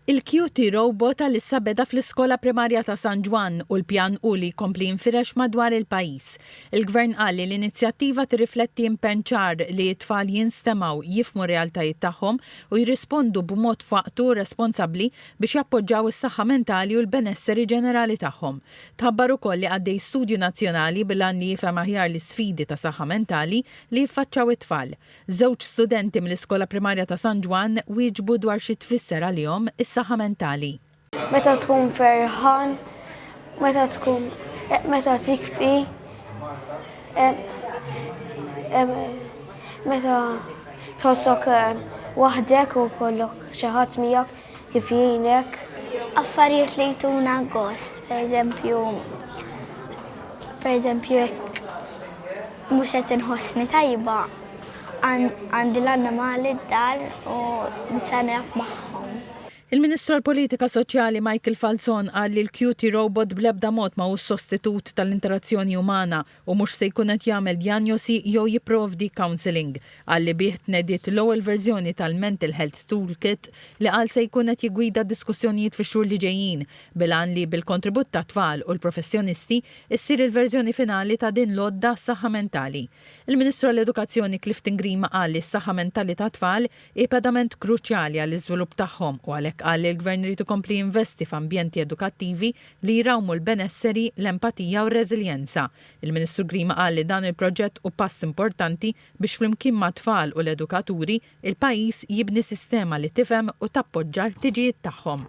Il-QT Robot għalissa beda fl-Iskola Primarja ta' San Ġwann u l-pjan hu li jkompli jinfirex madwar il-pajjiż. Il-Gvern qal li l-inizjattiva tirrifletti impenn ċar li t-tfal jinstemgħu, jifhmu r-realtajiet tagħhom u jirrispondu b'mod f'waqtu u responsabbli biex jappoġġaw is-saħħa mentali u l-benesseri ġenerali tagħhom. Tħabbar ukoll li għaddej studju nazzjonali bil-għan li jifhem aħjar l-isfidi ta' saħħa mentali li jiffaċċaw it-tfal. Żewġ studenti mill-Iskola Primarja ta' San Ġwann wieġbu dwar xi tfisser għalihom is-saħħa mentali. Meta tkun ferħan, meta tkun meta tikbi, meta tħossok waħdek u jkollok xi ħadd miegħek. kif jgħinek. Affarijiet li jtuna gost, per eżempju, per eżempju, jekk mhux qed inħossni tajba, għandi l-annimali d-dar u nista' nilgħab magħhom. Il-Ministru għall-Politika Soċjali Michael Falzon qal li l-QT Robot bl-ebda mod ma hu s-sostitut tal-interazzjoni umana u mhux se jkun qed jagħmel djanjosi jew jipprovdi counselling, qal li bih tnediet l-ewwel verżjoni tal-Mental Health Toolkit li qal se jkun qed jiggwida d-diskussjonijiet fix-xhur li ġejjin, bil-għan li bil-kontribut tat-tfal u l-professjonisti ssir il-verżjoni finali ta' din l-għodda għas-saħħa mentali. Il-Ministru għall-Edukazzjoni Clifton Grima qal li s-saħħa mentali tat-tfal hi pedament kruċjali għall-iżvilupp tagħhom u għalhekk qal li l-Gvern irid ikompli jinvesti f'ambjenti edukattivi li jrawmu l-benesseri, l-empatija u r-reżiljenza. Il-Ministru Grima qal li dan il-proġett hu pass importanti biex flimkien mat-tfal u l-edukaturi, il-pajjiż jibni sistema li tifhem u tappoġġa l-ħtiġijiet tagħhom.